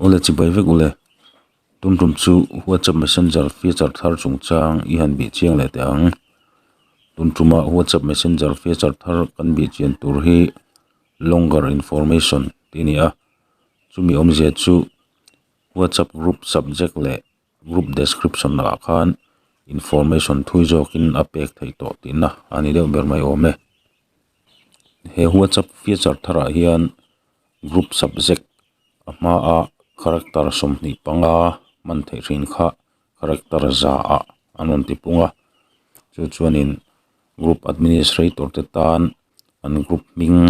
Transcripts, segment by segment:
Awle chibai vek ule. Tumtum chu WhatsApp messenger feature thar chung chang i han beh chiang leh teh ang. Tumtuma WhatsApp messenger feature thar kan beh chian tur hi longer information tih a ni a. Chumi awmzia chu WhatsApp group subject leh. Group description ah khan information thui zawk in a pek theih tawh tihna a ni deuh ber mai awm e. He WhatsApp feature thar ah hian group subject a hma ah character sawmhnih panga hman theih thin kha character za ah an rawn ti pung a, chu chuan in group administrator te tan an group hming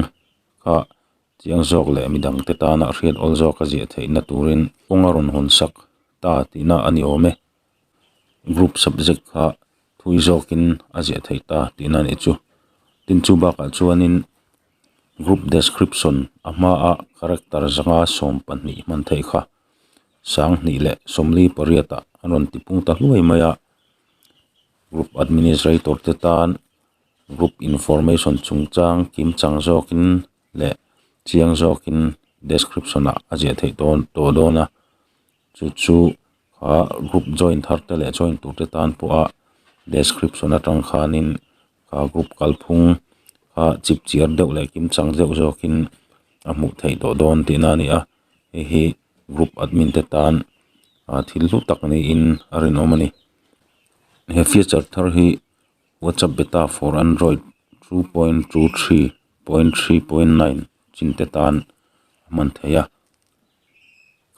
kha. Chiang zawk leh mi dangte tana hriat awl zawka ziahtheihna turin kawng a rawn hun sak ta tihna a ni awm e. Group subject kha thui zawkin a ziahtheih ta tihna a nih chu. Tin, chu bakah chuanin group description a hmaa character zanga sawm pahnih hman theih kha sang hnih leh sawmli pariatah an rawn tipung ta hluai mai a. Group administrator te tan group information chungchang kimchang zawkin leh chiang zawkin description ah a ziah theih dawn tawh dawn a chu chu kha group join thar te leh join tur te tan pawha description atang khanin ka group kalphung kha chip chhiar deuh leh kimchang deuh zawkin a hmuh theih tawh dawn tihna a ni a hei hi group admin te tan ah thil hlu tak niin a rinawm a ni he feature thar hi-- WhatsApp beta for Android two point two three point three point nine chin te tan a hman thei a,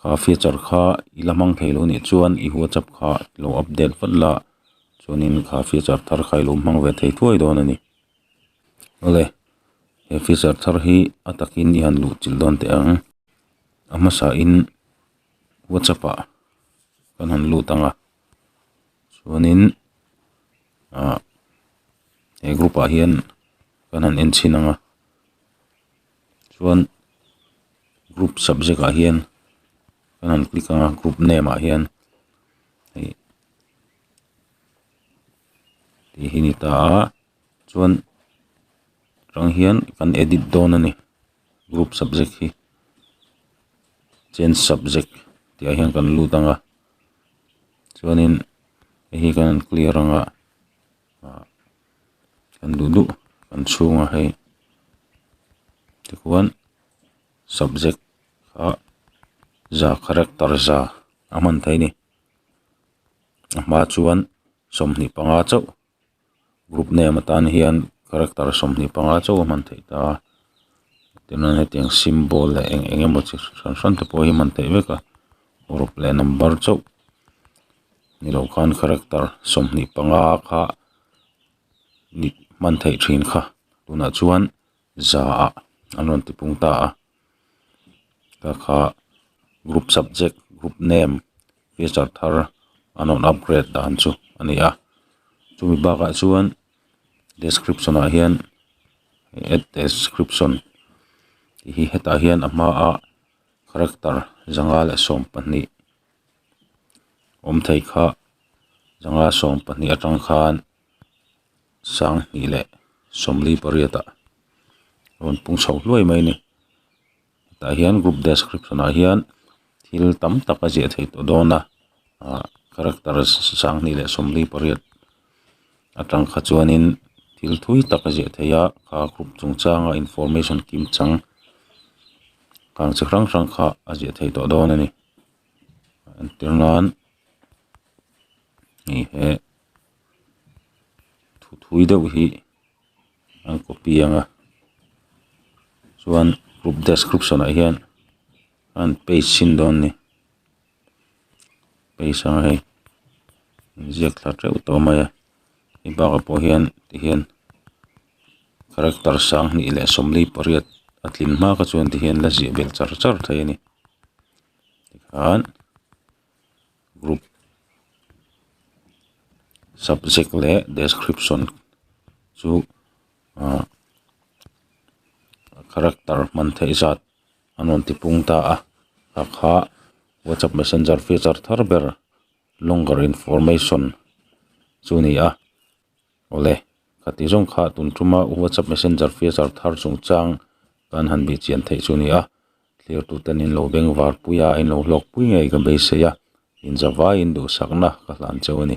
kha feature kha i la hmang thei lo nih chuan i WhatsApp kha i lo update vat la chuanin kha feature thar kha i lo hmang ve thei thuai dawn a ni. Awle he feature thar hi a takin i han luhchilh dawn teh ang, a hmasahin WhatsApp ah kan han lut ang a. chuanin ah he group ah hian kan han en chhin ang a chuan group subject ah hian kan han click anga group name ah hian hei tih hi a ni ta a chuan rang hian kan edit dawn a ni group subject hi change subject tih ah hian kan lut anga. chuanin hei hi kan han clear ang a ah kan duh duh kan chhunga hei tichuan subject kha za character za a hman theih a ni a hma chuan sawmhnih panga chauh-- group name atan hian character sawmhnih panga chauh a hman theih ta a tichuan hetiang symbol leh eng eng emaw chi hran hran te pawh hi a hman theih vek a group leh number chauh ni loh khan character sawmhnih panga kha hman theih thin kha tunah chuan-- zaah an rawn tipung ta a ta kha group subject group name feature thar an rawn upgrade dan chu a ni a chumi bakah chuan description ah hian add description tih hi hetah hian a hmaa character zanga leh sawm pahnih awm thei kha zanga sawm pahnih atang khan-- sang hnih leh sawmli pariatah rawn pung chho hluai mai a ni tah hian group description ah hian thil tam tak a ziah theih tawh dawn a ah character sang hnih leh sawmli pariat a tang kha chuanin thil thui tak a ziah theih a a group chung changa information kim chang kang chi hrang hrang kha a ziah theih tawh dawn a ni entir nan hei he-- thuthui deuh hi an copy ang a chuan group description ah hian an paste chin dawn a ni paste ang hei inziak thla teuh tawh mai a i bakah pawh hian tihian character sang hnih leh sawmli pariat a tlin hma kha chuan tihian la ziah belh char char thei a ni tikhan. group subject leh description chu ah character hman theih zat an rawn ti pung ta a takha whatsapp messenger feature thar ber longer information chu ni a awle ka ti zawng kha tun tuma whatsapp messenger feature thar chungchang kan han beh chian theih chu a ni a. Thlertu ten in lo beng var pui a, in lo hlawk pui ngei ka beisei a, inzavaiin duhsakna ka hlan cheu a ni.